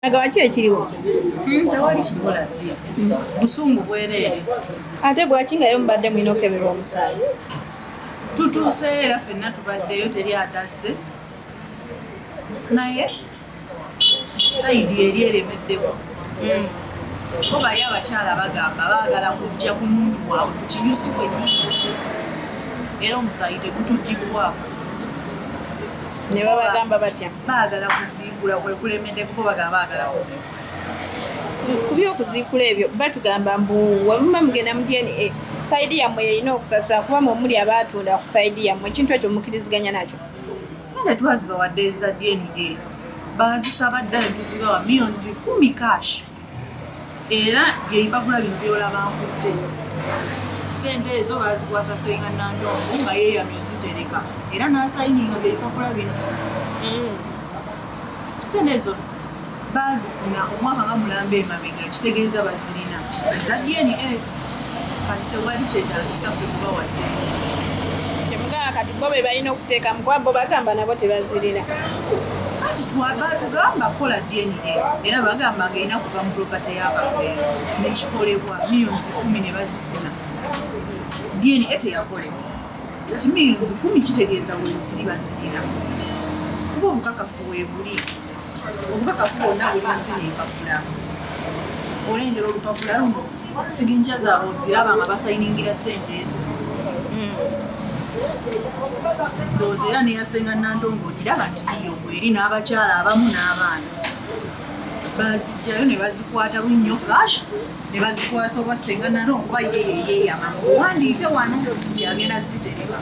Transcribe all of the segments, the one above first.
Nagawa ki ekiriwo? Hmm, tewali kiriwo Laziya. Busungu bwereere. Ate bwaki nga yo mubadde mulina okukeberwa omusaayi? Tutuuseeyo era fenna tubaddeyo teri atazze. Naye sayidi eri eremeddewo. Hmm. Bo bali abakyala bagamba baagala kujja ku muntu waabwe ku kinyusi kwennyini era omusaayi tegutuggibbwako. ne babagamba batya baagala kuziikula kwe kulemedde kuba bagamba baagala kuziikula ku byokuziikula ebyo batugamba mbu wemuba mugenda mu dna sayidi yammwe yeyina okusasula kuba mwe muli abaatunda ku sayidi yammwe ekintu ekyo mukiriziganya nakyo sente twazibawadde eza dna bazisaba ddala tuzibawa miyonzi kumi kash Era byebagula bino byolaba nkudde. Sente ezo bazikwasa senga Nandongo nga yeyamye ozitereka era nasayininga byebipapula bino. Mm. Sente ezo baazifuna omwaka nga mulamba emabega kitegeeza bazirina eza DNA. kati tewali kyetagisa ffe kubawa sente temugamba kati bo bebalina okuteekamu kuba bo bagamba nabo tebazirina kati batugamba kukola dna era bagamba nga erina kuva mu propate yabafeero nekikolebwa millions kumi ne bazifuna dna teyakolebwa kati millions kumi kitegeeza weziri bazirina kuba obukakafu webuli obukakafu bwonna buli muzina empapula olengera olupapula luno signature zaabwe oziraba nga basayiningira sente ezo ndowooza era neyasenga nandongo ogiraba nti yiyo bweri n'abakyala abamu n'abaana bazijjayo ne bazikwata bunnyo gash ne bazikwasa oba senga nalo okuba yeyeyeyama owandiike wano yagenda zitereba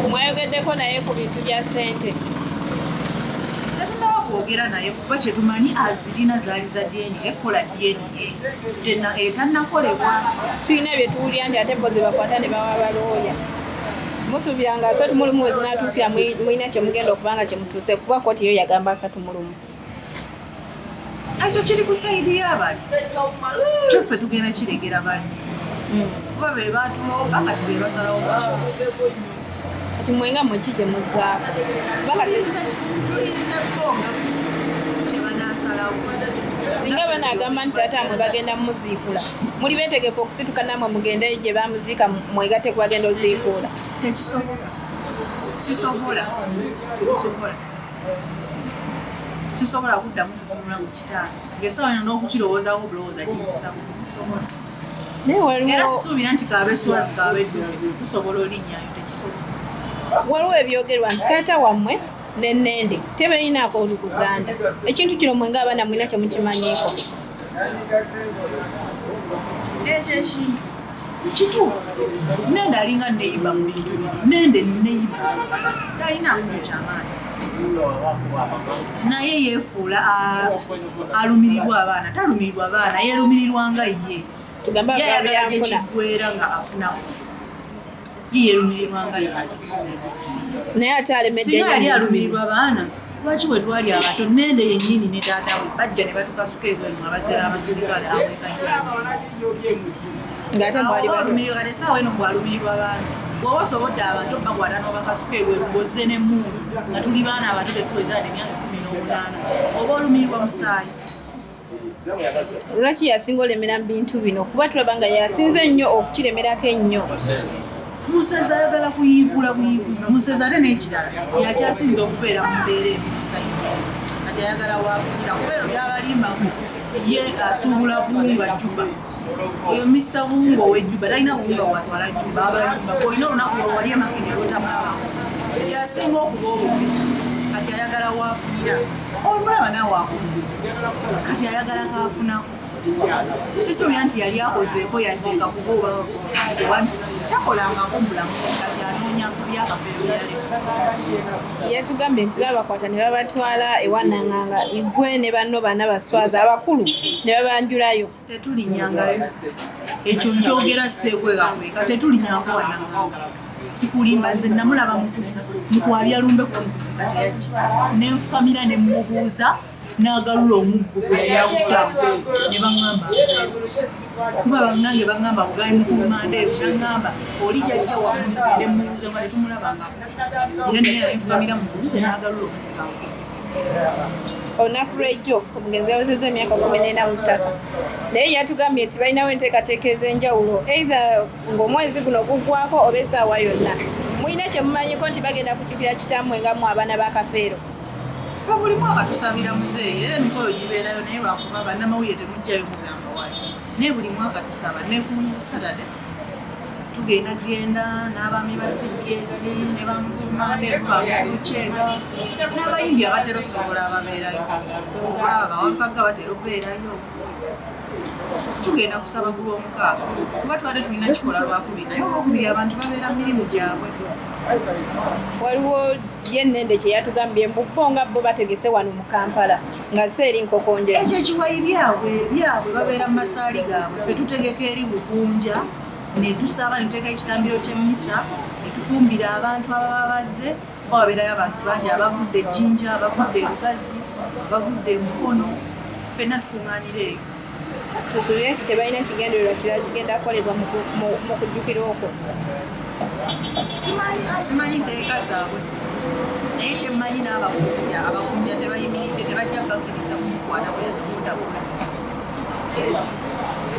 mwayogeddeko naye ku bintu bya sente tetunaba kwogera naye kuba kyetumanyi azirina zaali za dna ekkola dna etannakolebwa tulina bye tuwulira nti ate bo zebakwata ne bawa balooya musuubira nga asatu mu lumu wezinatuukira mulina kyemugenda okuba nga kyemutuuse kuba kooti yo yagamba asatu mu lumu ekyo kiri ku saidi yabali kyo ffe tugenda kiregera bali hmm. kuba be batulomba kati be basalawo kati mwe nga mwe kikye muzaako tulinze bo nga kyebanasalawo singa banagamba nti taata mwe bagenda muziikula muli betegefu okusituka namwe mugende gye bamuziika mwegate kubagenda oziikuula tekisobola sisobola sisobola sisobola kuddamu kutunula mu kitaano ngaesawa eno n'okukirowoozawo bulowooza kimusamu sisobola era sisuubira nti kaabeswazi kaabeddume tusobola olinnyayo tekisobola waliwo ebyogerwa nti taata wammwe nenende tebeyinaako oluguganda ekintu kino mwe ngaabaana mwina temukimanyiiko ekyo ekintu kituufu nende alinga neyiba mu bintu bino nende neyiba talina ngunyo kyamaanyi naye yefuula alumirirwa abaana talumirirwa baana yerumirirwa nga ye yayagala gyekiggwera nga afunamu yeyerumirirwa nga ye naye ate alemeddeyo yali alumirirwa baana lwaki bwe twali abato nende yennyini ne taata we bajja ne batukasuka ebwenu abazira abasirikale awekajansi ng'ate mwali balumirirwa kati esaawa eno ngwalumirirwa baana bwoba osobodde abantu bakwata n'obakasuka ebweru bozze n'emmundu nga tuli baana abato betuweza ne myaka kumi n'omunaana oba olumirirwa musaayi lwaki yasinga olemera mu bintu bino kuba tulaba nga yasinze ennyo okukiremerako ennyo Musezi ayagala kuyiigula buyiiguzi. Musezi ate n'ekirala yakyasinze okubeera mu mbeera ebimusajja kati ayagala waafunira kuba eyo byabalimbamu ye asuubula buwunga juba oyo misita buwunga ow'ejjuba talina buwunga bwatwala juba abalimba olina olunaku lwewali amakende lwotamaba yasinga okuba obubi kati ayagala waafunira olumulaba naawe akuzi kati ayagala kaafunaku Sisuubira nti yali akozeeko yadde nga kuba oba oba nti takolangako mulamu kati anoonya ku byakafere bye yaleka. Yatugambye nti baabakwata ne babatwala ewa Nanganga Igwe ne banno bana baswaza abakulu ne babanjulayo. Tetulinyangayo. Ekyo nkyogera seekwegakweka. Tetulinyanga wa Nanganga. Sikulimba nze namulaba mukuzi mu kwabya lumbe kuba mukuzi nga teyajja. Ne nfukamira ne mmubuuza. Naagalula omuggo gwe yali akutte ne bang'amba nveeyo. Kuba bannange bang'amba mbu gaali mu kuluma ndeevu. N'ang'amba oli jajja wammwe mugende mmubuuze nga tetumulabangako. Era naye yalinfukamira mmubuuze naagalula omuggo ankume. Olunaku lw'ejjo omugenzi yawezezza emyaka kkumi n'ena mu ttaka naye yatugambye nti balinawo enteekateeka ez'enjawulo eitha ng'omwezi guno guggwako oba essaawa yonna. Mulina kye mumanyiko nti bagenda kujjukira kitammwe nga mmwe abaana ba Kafeero? fe buli mwaka tusabira muzeeyi era emikolo gibeerayo naye lwakuba bannamawulire temujjayo mugamba wali naye buli mwaka tusaba ne ku satade tugenda genda n'abaami ba cbs ne bamgulumandebamulukyega n'abayimbi abatera osobola ababeerayo baba bawakagga batera okubeerayo tugenda kusaba ku lwomukaaga kuba twali tulina kikola lwakubiri naye olwokubiri abantu babeera mu mirimu gyabwe waliwo ye nende kyeyatugambye mbubo nga bo bategese wano mu kampala nga se eri nkokonja ekyo ekiwayi byabwe byabwe babeera mu masaali gaabwe fe tutegeka eri bukunja netusaba netuteeka ekitambiro kyemmisa netufumbira abantu ababa bazze kuba wabeerayo abantu bangi abavudde ejjinja abavudde ebugazi abavudde emukono fenna tukuŋŋaanira eyo tusuubire nti tebalina kigendererwa kirala kigenda kukolebwa mu kujjukira okwo simanyi nteeka zaabwe naye kyemmanyi n'abakunya abakunya tebayimiridde tebajja bakiriza kumukwata bwe yatuundagula